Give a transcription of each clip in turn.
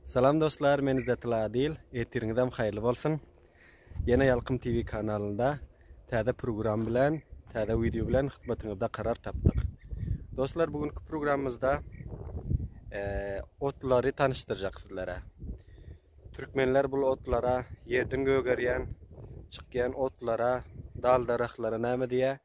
Salam dostlar, men Izetdil Adil. Etiriňizem haýyrly bolsun. Ýene Ýalkym TV kanalynda täze program bilen, täze wideo bilen hyzmatyňyzda karar tapdyk. Dostlar, bu günki programymyzda e, otlary tanyşdyrjak sizlere. Türkmenler bu otlara ýerden gögerýän, çykýan otlara, dal darahlara näme diýýär?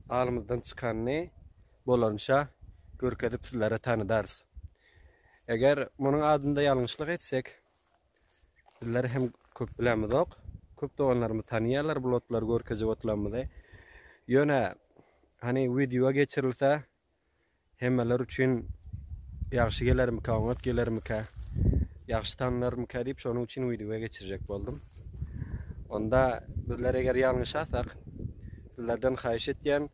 Alymyzdan çykanyny bolança görkezip sizlere tanydarys. Eger munuň adynda ýalňyşlyk etsek, bizler hem köp bilemizok. Köp doganlarymyz tanaýarlar bul otlary görkezip oturanymyzy. Ýöne hani wideoa geçirilse, Hemmeler üçin ýagşy gelermikä, oňat gelermikä, ýagşy tanylarmyka diýip şonuň üçin wideo geçirjek boldum. Onda bizler eger ýalňyşasak, sizlerden haýyş etýän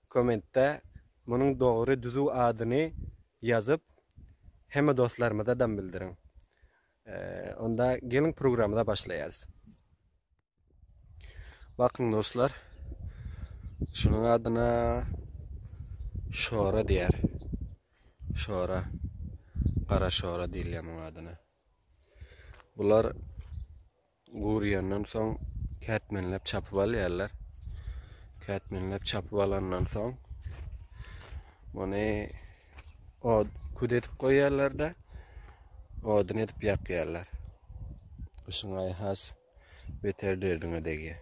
kommentde munuň dogry düzüw adyny ýazyp hemme dostlarymyza dam bildiriň. Onda geliň programmada başlaýarys. Bakın dostlar. Şunun adına şora diyer. Şora. Kara şora deyilýär munuň adyna. Bular gurýandan soň kätmenläp çapyp alýarlar. Kätmenläp çapyp alandan soň muny od küt edip goýýarlar-da, odun edip ýakýarlar. Kışyň aýy has beter derdiňe degýä.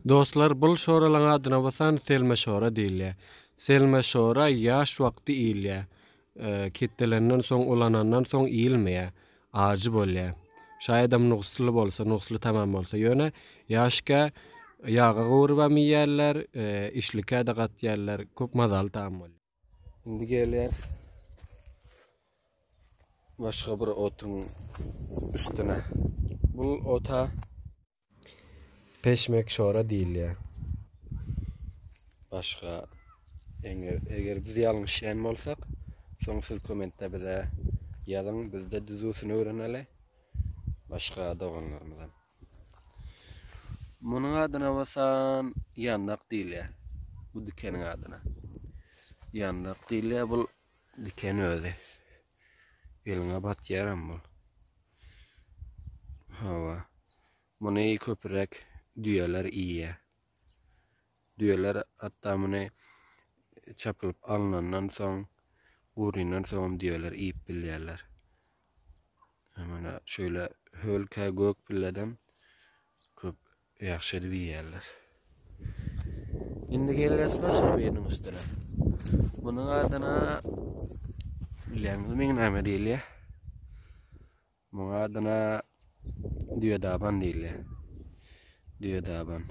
Dostlar bul şoralaň adyna basan Selme şora diýilýär. Selme şora ýaş wagty iýilýär. Ketdelenden soň ulanandan soň iýilmeýär. Ajy bolýar. Şaýadam nusly bolsa, nusly tamam bolsa. Ýöne ýaşkä ýaga gowurybam iýýärler, işlikä-de gatýarlar. Köp mazaly taam bolýar. Indi gelýär. Başga bir otuň üstüne. Bu ota peşmek şora diýilýär. Başga eger, eger biz ýalňyşýan bolsak, soň siz kommentde bize ýazyň, bizde düzüsini öwreneli. Başga doganlarymyzam. Munuň adyna basan ýandak diýilýär. Bu dikeniň adyna. Ýandak diýilýär bu diken özi. Eliňe batýaram bu. Hawa. Muny köpürek düýeler iýýär. Düýeler hatda muny çapylyp alnandan soň, guryndan soňam düýeler iýip bilýärler. Mana şöyle hölkä gök pilleden köp ýagşy edip iýýärler. Indi gelýäs başga biriniň üstüne. Munuň adyna bilýäňizmi näme diýilýär? Muň adyna Düýedaban diýilýär. Düýedaban.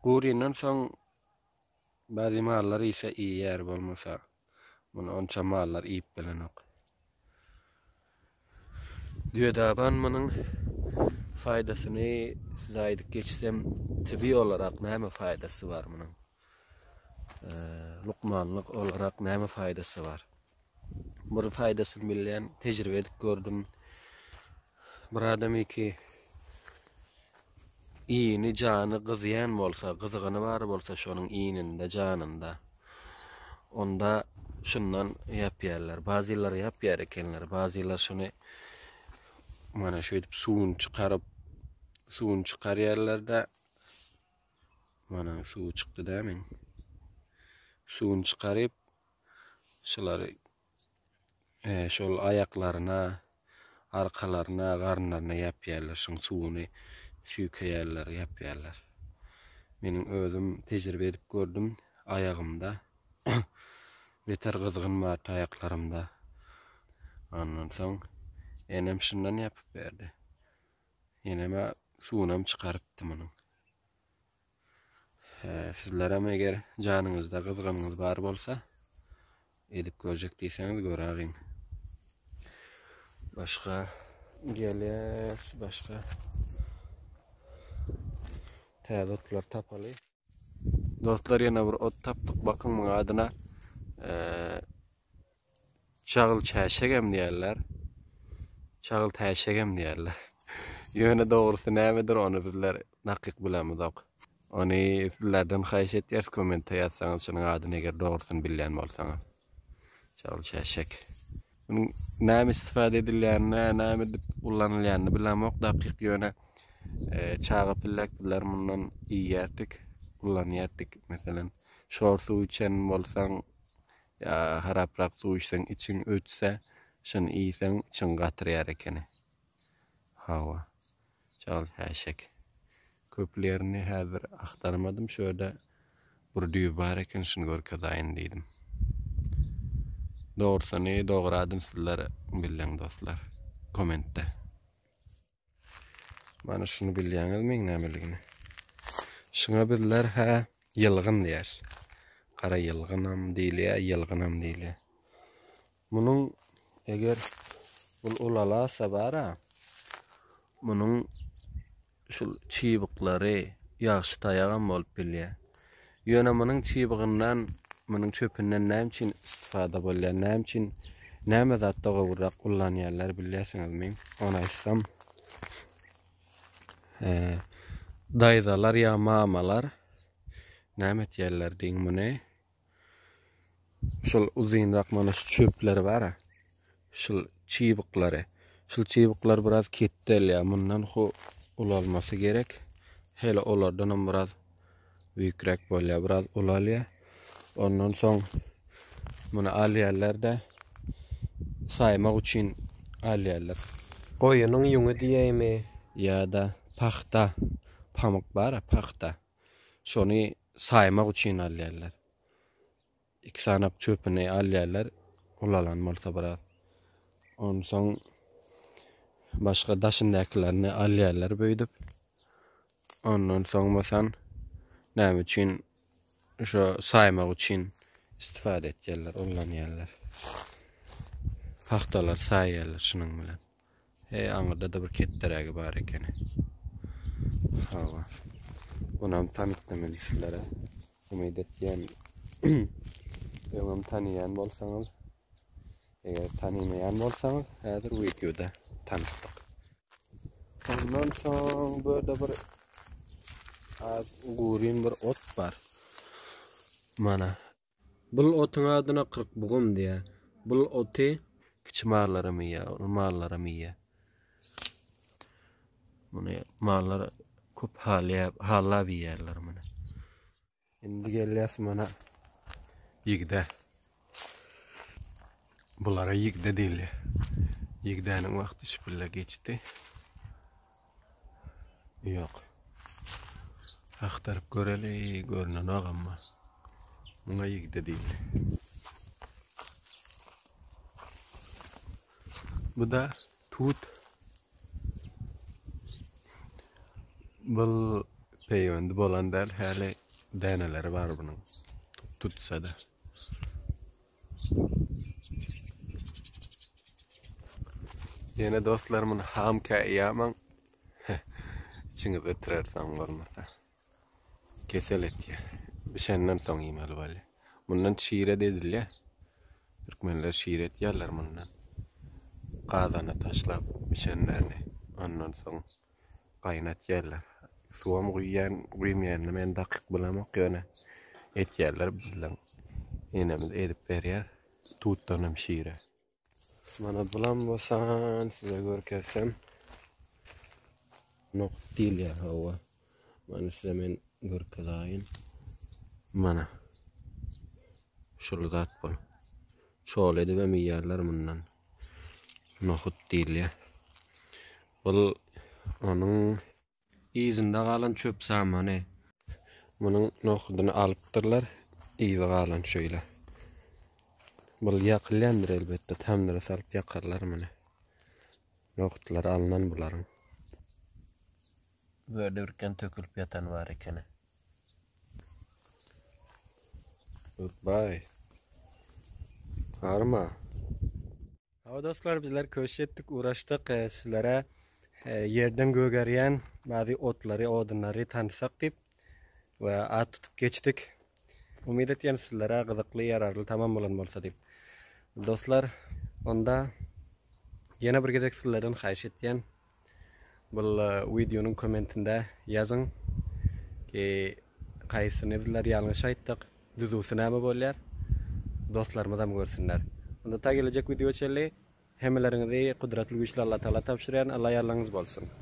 Guryndan soň bazi mallar iýse iýýär bolmasa muny onça mallar iýip bilenok. Düýedaban munyň faýdasyny size aýdyp geçsem, tibi olarak näme faýdasy bar munyň? Lukmanlyk olarak näme faýdasy bar? bir faýdasyny bilýän, tejribe edip gördüm. Bir adam iki iýini, jany gyzýan bolsa, gyzygyny bar bolsa şonuň iýninde, janynda. Onda şundan ýapýarlar. Bazylar ýapýar ekenler. Bazylar şuny mana şeýdip suwuny çykaryp, suwuny çykarýarlar-da mana suw çykdy-da men. Suwuny çykaryp, Şulary e, şol aýaklaryna, arkalaryna, garynlaryna ýapýarlar. Şuň suwuny süýkeýärler, ýapýarlar. Meniň özüm tejribe edip gördüm. Aýagymda beter gyzgyn bar aýaklarymda. Ondan soň enem şundan ýapyp berdi. Eneme suwunam çykarypdy munuň. Sizlerem eger janyňyzda gyzganyňyz bar bolsa, edip görjek diýseňiz görägiň. Başga geler, başga täze otlar tapaly. Dostlar ýene bir ot tapdyk. Bakyň muň adyna Çagyl çäşegem diýerler. Çagyl täşegem diýerler. Ýöne dogrusy nämedir ony bizler dakyk bilemizok. Ony sizlerden haýyş etýäris kommente ýazsaňyz şunuň adyny eger dogrusyny bilýän bolsaňyz. Çagyl çäşek. Munuň näme istifade edilýänini, näme edip ullanylýanyny bilemok dakyk ýöne e, çaga pillek bizler mundan iýýärdik, ullanýardyk. Meselem, şor suw içen bolsaň, Ýa haraprak suw içseň içiň ötse, şony iýseň içiň gatrýar ekeni. Hawa. Çal häşek. Köplerini häzir agtarmadym şu ýerde bir düýe bar eken şuny görkezaýyn diýdim. Dogrusyny doguradym sizler belleň dostlar komentde. Mana şunu bilýäňizmi nämeligini? Şuna bizler hä ýylgyn diýer. Gara ýylgynam diýilýär, ýylgynam diýilýär. Munuň eger bu ulalasa bara munuň şu çybyklary ýagşy taýagam bolup bilýär. Ýöne munuň çybygyndan, munuň çöpünden näme üçin istifada bolýar, näme üçin, näme zatda gowurak ullanýarlar bilýärsiňizmi? Ony aýtsam, daýzalar ýa mamalar näme etýärler diýiň muny? Şol uzynrak mana şu çöpler bar-a. Şul çybyklary. Şul çybyklar biraz ketdelýär. Mundan ho ulalmasy gerek. Hele olardan hem biraz büyükrek bolýar. Biraz ulalýar. Ondan soň muny alýarlar-da saýmak üçin alýarlar. Goýunyň ýüňi diýeými? Ýa-da pahta, pamyk bar-a, pahta. Şony saýmak üçin alýarlar. Iki sanak çöpüni alýarlar, ulalan bolsa biraz. Onsoň başga daşyndakylaryny alýarlar beýdip. Ondan soň bolsa näme üçin şo saýmak üçin istifade etýärler, ullanýarlar. Pagtalar saýýarlar şunuň bilen. He, aňyrda-da bir ketderägi bar ekeni. Hawa. Bunam tanykdym indi sizlere. Umyt etýän öňem tanýan bolsaňyz, eger tanymaýan bolsaňyz, häzir wideoda tanykdyk. Ondan soň bu ýerde bir az guryn bir ot bar. Mana Bul otyň adyna Kyrkbugum diýýär. Bul oty. Kiçi mallaram iýýär, uly mallaram iýýär. Muny mallar köp halýap, hallap iýýärler muny. Indi gelýäs mana ýigde. Bulara ýigde diýilýär. Ýigdäniň wagty şpille geçdi. Ýok. Agtaryp göreli, görnenok amma. Muňa ýigde diýildi. Bu da tut. Bu peýwendi bolan däl, häli däneleri bar bunuň. Tutsa-da. Yine dostlarımın ham kayyaman içiniz ötürer son olmasa. Kesel et ya. Bir şeyden son yemeli böyle. Bundan şire dedil ya. Türkmenler şire et yerler bundan. Kazana taşlap bir şeylerini. Ondan son. gaýnatýarlar. Suwam guýýan, guýmaýanyny men dakyk bilemok, ýöne etýärler bizden. Enemiz edip berýär. Tutdanam şire. Mana bulam bosan size görkezsem. Nok diýilýär hawa. Mana size men görkezaýyn. Mana. Şul zat bol. Çol edibem iýerler mundan. Nohut diýilýär. Bul onuň yzynda galan çöp samany. Munuň nohudyny alypdyrlar, yzy galan şeýle. Bul ýakylýandyr elbetde, tamdyra salyp ýakarlar muny. Nohutlary alnan bularyň. Bu ýerde birkän tökülip ýatany bar ekeni. Goodbye. Arma. Hawa dostlar, bizler köş etdik, uğraşdyk. E, sizlere e, yerden gögerýän bazı otlary, odunlary tanıtsak dip ve at tutup geçdik. Umyt etýän sizlere gyzykly, yararly tamam bolan bolsa dip. Dostlar, onda yine bir gezek sizlerden haýyş etýän, Bul wideonyň kommentinde ýazyň ki haýsysyny bizler ýalňyş aýtdyk düzüwsi näme bolýar dostlarymyzam görsünler. Onda ta gelejek wideo çenli hemmeleriňizi gudratly güýçli Allatagala tabşyrýan Alla ýarlygyňyz bolsun.